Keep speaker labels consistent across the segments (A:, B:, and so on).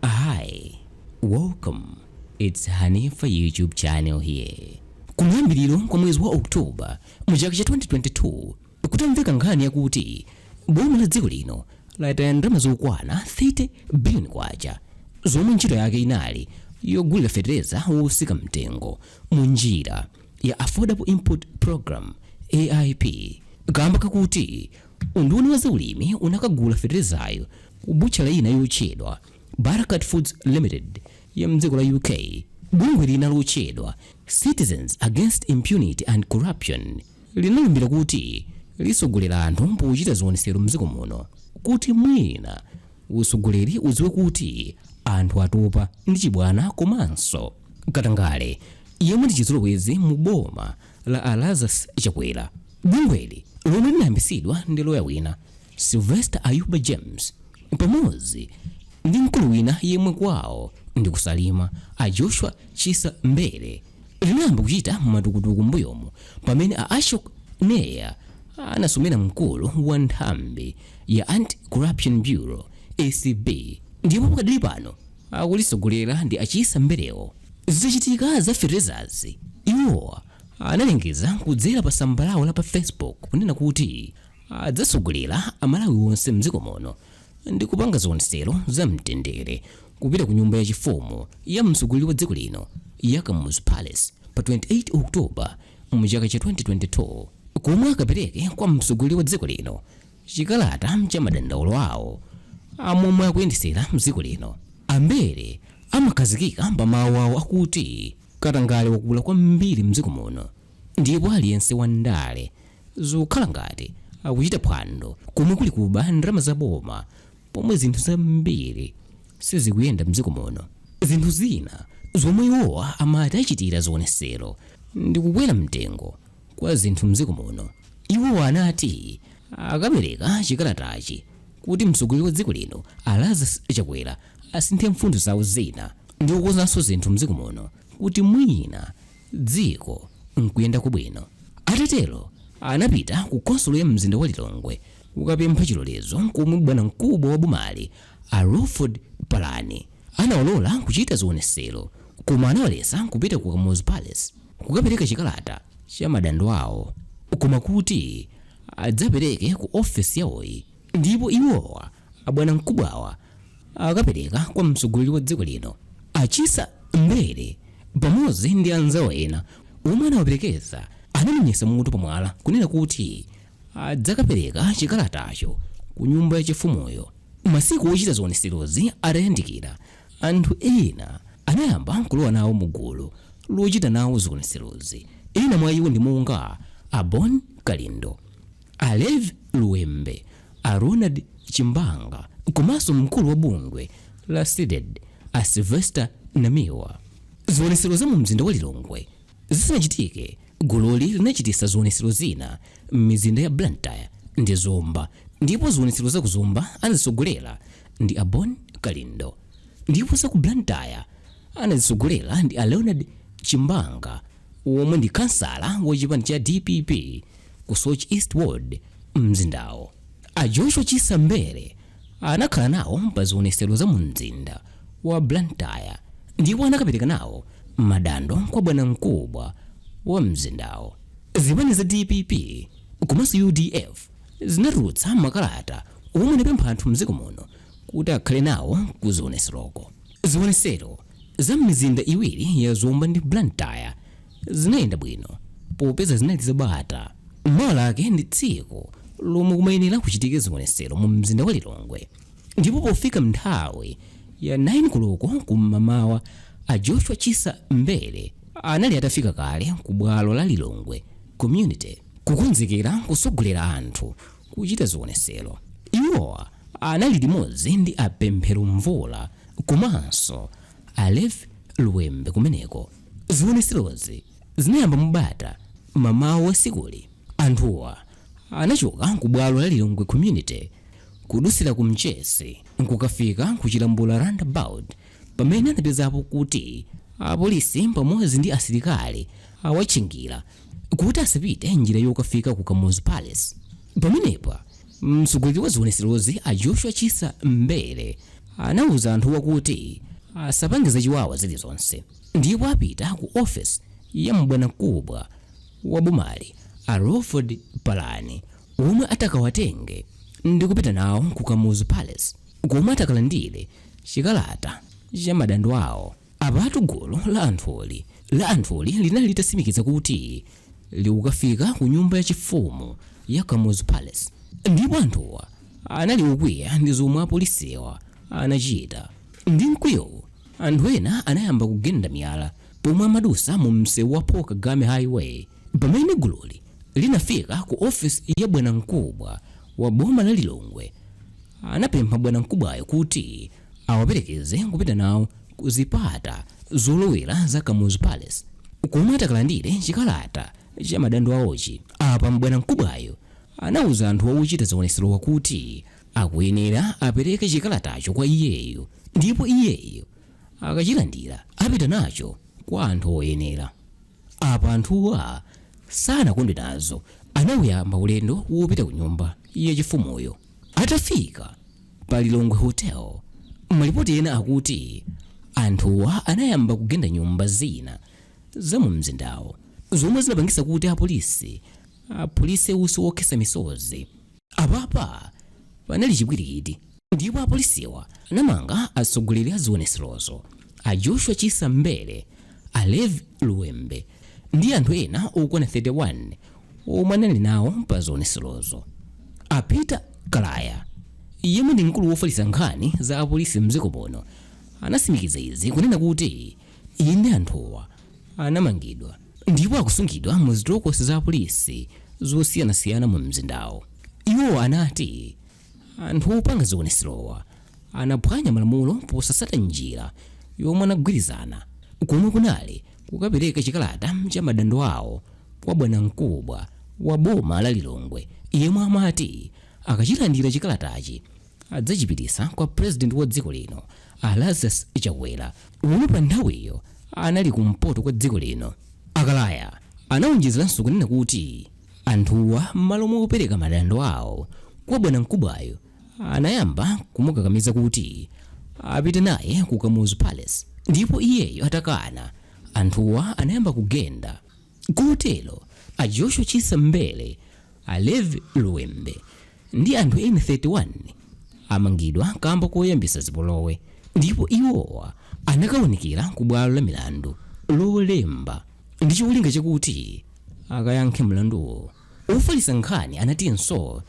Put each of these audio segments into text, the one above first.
A: Hi, welcome its Hanifa YouTube channel here. Kumayambiliro kwa mwezi wa October mu chaka cha 2022 kutamveka nkhani yakuti boma la dziko lino lataya ndalama zokwana 30 billion kwacha zomwe ntchito yake inali yogulira fetereza wotsika mtengo mu njira ya Affordable Input Program AIP kamba kakuti unduna wa zaulimi unakagula feterezayo ku butchala ina yotchedwa Barakat Foods Limited ya m'dziko la UK. Bungwe lina lotchedwa Citizens Against Impunity and Corruption linalumbira kuti litsogolera anthu pochita zionetsero m'dziko muno kuti mwina utsogoleri udziwe kuti anthu atopa ndi chibwana komanso katangale yemwe ndi chizolowezi mu boma la a Lazarus Chakwera. Bungweli lomwe linayambitsidwa ndi loya wina Sylvester Ayuba James pamodzi ndi mkulu wina yemwe kwawo ndi ku Salima a Joshua Chisa Mbele linayamba kuchita matukutuku mbuyomu pamene a Ashok Nair anasumira mkulu wa nthambi ya Anti-Corruption Bureau ACB ndipo pakadali pano akulitsogolera ndi a Chisa Mbelewo zitachitika za feterezazi iwowa analengeza kudzera pa tsamba lawo la pa facebook kunena kuti Adzatsogolera a Malawi onse mdziko muno ndi kupanga zionetsero za mtendere kupita ku nyumba ya chifumu ya mtsogoleri wa dziko lino ya Kamuzu Palace pa 28 October mu chaka cha 2022 komwe akapereke kwa mtsogoleri wa dziko lino chikalata cha madandaulo awo a momwe akuyendetsera dziko lino. A Mbele amakhazikika pa mawu awo akuti katangale wakula kwambiri mdziko muno ndipo aliyense wa ndale Zikukhala ngati akuchita phwando komwe kuli kuba ndalama za boma pomwe zinthu zambiri sizikuyenda mdziko muno. Zinthu zina zomwe iwowa amati achitira zionetsero ndi kukwera mtengo kwa zinthu mdziko muno. Iwowa anati akapereka chikalatachi kuti mtsogoleri wa dziko lino a Lazarus Chakwera asinthe mfundo zawo zina ndi kukonzanso zinthu mdziko muno kuti mwina dziko n'kuyendako bwino. Atatero anapita ku khonsolo ya mzinda wa Lilongwe kukapempha chilolezo komwe bwanamkubwa wa bomali a Lawford Palani anawalola kuchita zionetsero koma anawaletsa kupita ku Kamuzu Palace kukapereka chikalata cha madandaulo awo koma kuti adzapereke ku ofesi yawoyi. Ndipo iwowa, abwanamkubwawa, akapereka kwa mtsogoleri wa dziko lino, a Chisa Mbele, pamodzi ndi anzawo ena omwe anawaperekeza, anamenyetsa mutu pamwala kunena kuti adzakapereka chikalatacho ku nyumba yachifumuyo. Masiku ochita zionetserozi atayandikira, anthu ena anayamba kulowa nawo mu gulu lochita nawo zionetserozi. Ena mwa iwo ndi monga a Bon Kalindo, A Lev Luwembe, a Leonard Chimbanga komanso mkulu wa bungwe la CDEDI a Sylvester Namiwa. Zionetsero za mumzinda wa Lilongwe zisanachitike, gululi linachititsa zionetsero zina m'mizinda ya Blantyre ndi Zomba ndipo zionetsero za ku Zomba anazitsogolera ndi a Bon Kalindo ndipo za ku Blantyre anazitsogolera ndi a Leonard Chimbanga omwe ndi khansala wa chipani cha DPP. ku Soche East Ward mzindawo. A Joshua Chisa Mbele anakhala nawo pa zionesero za mu mzinda wa Blantyre ndipo anakapereka nawo madando kwa bwanamkubwa wa mzindawo. Zipani za DPP komanso UDF zinatulutsa makalata omwe anapempha anthu mdziko muno kuti akhale nawo ku zioneseroko. Zionesero za m'mizinda iwiri ya Zomba ndi Blantyre zinayenda bwino popeza zinali zabata mmawa lake ndi tsiku lomwe kumayenera kuchitike zionetsero mu mzinda wa lilongwe ndipo pofika nthawi ya 9 koloko kum'mawa a joshua chisa mbele anali atafika kale ku bwalo la lilongwe community kukonzekera kusogolera anthu kuchita zionetsero iwowa anali limodzi ndi apemphero mvula komanso a lev luwembe kumeneko Zionetserozi zinayamba mu bata m'mawa wa tsikuli. Anthuwa anachoka ku bwalo la Lilongwe Community kudusira ku Mchesi nkukafika ku Chilambula Roundabout pamene anapezapo kuti apolisi pamodzi ndi asilikali awatchingira kuti asapite njira yokafika ku Kamuzu Palace. Pamenepa Mtsogoleri wa zionetserozi a Joshua Chisa Mbele anauza anthuwa kuti asapange zachiwawa zilizonse ndipo apita ku ofesi ya bwanamkubwa wa bomali a Lawford Palani omwe atakawatenge ndikupita nawo ku Kamuzu Palace komwe atakalandire chikalata cha madando awo. Apatu gulu la anthuli linali litatsimikiza kuti likukafika ku nyumba ya chifumu ya Kamuzu Palace ndipo anthuwa anali okwiya ndi zomwe apolisiwa anachita. Ndi mkwiyowu anthu ena anayamba kugenda miyala pomwe amadutsa mu msewu wa Paul Kagame Highway. Pamene gululi linafika ku office ya bwanamkubwa wa boma la Lilongwe anapempha bwanamkubwayo kuti. awaperekeze kupita nawo ku zipata zolowera za Kamuzu Palace komwe atakalandire chikalata cha madandaulo awochi. Apa bwanamkubwayo anauza anthu ochita zionetserowa kuti akuyenera apereke chikalatacho kwa iyeyo ndipo iyeyo akachilandira apita nacho kwa anthu oyenera. Apa anthuwa sanakondwe nazo, anauyamba ulendo wopita ku nyumba yachifumuyo. Atafika pa Lilongwe Hotel, malipoti ena akuti anthuwa anayamba kugenda nyumba zina za mu mzindawo zomwe zinapangisa kuti apolisi aphulise usi wokhetsa misozi. Apapa panali chipwirikiti ndipo apolisiwa anamanga atsogoleri a zionetserozo a Joshua Chisa Mbele, a Levi Luwembe ndi anthu ena okwana 31. omwe anali nawo pa zionetserozo a peter kalaya yemwe ndi mkulu wofalitsa nkhani za apolisi mdziko muno anasimikiza izi kunena kuti eyadi anthuwa anamangidwa ndipo akusungidwa mu zitokosi za apolisi zosiyanasiyana mu mzindawo iwo anati Anthu opanga zionetserowa anaphwanya malamulo posasata njira yomwe anagwirizana komwe kunali kukapereka chikalata cha madandaulo awo kwa bwanamkubwa wa boma la Lilongwe yemwe amati akachilandira chikalatachi adzachipitisa kwa president wa dziko lino a Lazarus Chakwera omwe pa nthawiyo anali kumpoto kwa dziko lino. A Kalaya anaonjezeranso kunena kuti. Anthuwa mmalo mopereka madandaulo awo kwa bwanamkubwayo anayamba kumukakamiza kuti apite naye ku Kamuzu Palace ndipo iyeyo atakana anthuwa anayamba kugenda kotero a Joshua Chisa Mbele, a Levi Luwembe ndi anthu ena 31 amangidwa kamba koyambisa zipolowe ndipo iwowa akaonekera ku bwalo la milandu lolemba ndi cholinga chakuti akayankhe mlanduwo ofalitsa nkhani anatinso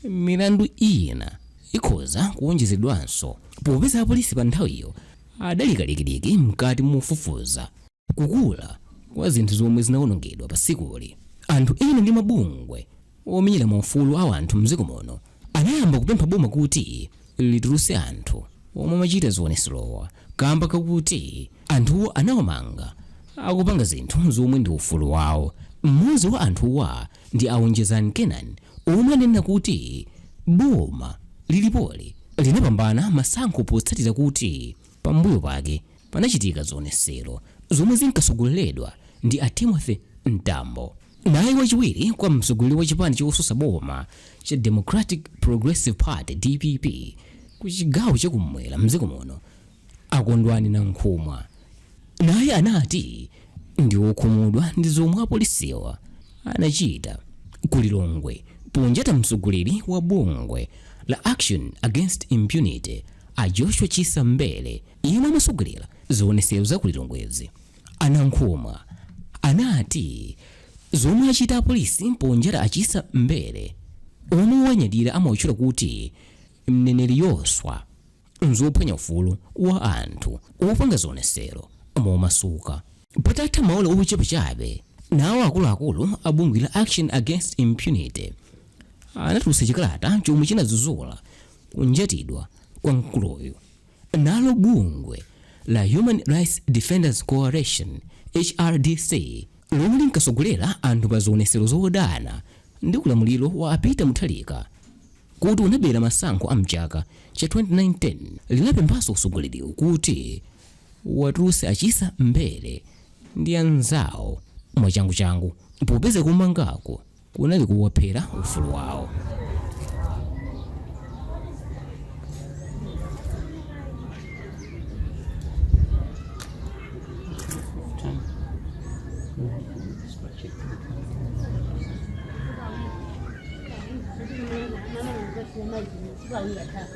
A: milandu ina ikhoza kuwonjezedwanso popeza apolisi pa nthawiyo adali kalikiliki mkati mofufuza kukula kwa zinthu zomwe zinawonongedwa pa tsikuli, anthu ena ndi mabungwe omenyera maufulu a anthu m'dziko muno anayamba kupempha boma kuti litulutse anthu omwe amachita zionetserowa kaamba kakuti anthuwo anawamanga akupanga zinthu zomwe ndi ufulu wawo. Mmodzi wa anthuwa ndi a Onjezani Kenani omwe ananena kuti boma lilipoli linapambana masankho potsatira kuti pambuyo pake panachitika zionesero zomwe zinkatsogoleredwa ndi a Timothy Mtambo. Naye wachiwiri kwa mtsogoleri wa chipani chosusa boma cha Democratic Progressive Party, dpp, ku chigawo cha kummwera m'dziko muno, a Kondwani Nankhumwa, naye anati ndi wokhumudwa ndi zomwe apolisiwa anachita ku Lilongwe ponjata mtsogoleri wa bungwe la Action Against Impunity, a Joshua Chisa Mbele, Yemwe amasogelera zionesero za ku Lilongwezi, a Nankhumwa, anati zomwe achita apolisi ponjata a Chisa Mbele, omwe owanyadira amawatchula kuti Mneneri Yoswa, nzophwanya ufulu wa anthu opanga zionesero momasuka. Patatha maola ochepa chabe, nawo akuluakulu a bungwe la Action Against Impunity anatulutsa chikalata chomwe chinadzudzula kunjatidwa kwa mkuluyu. Nalo bungwe la Human Rights Defenders Coalition, HRDC, lomwe linkasogolera anthu pa zionesero zodana ndi ulamuliro wa a Peter Mutharika kuti unabera masankho a mchaka cha 2019, linapemphanso usogoleriwu kuti watulutse a Chisa Mbele ndi anzawo mwachanguchangu popeza kumangako kunali kuwaphera ufulu wawo.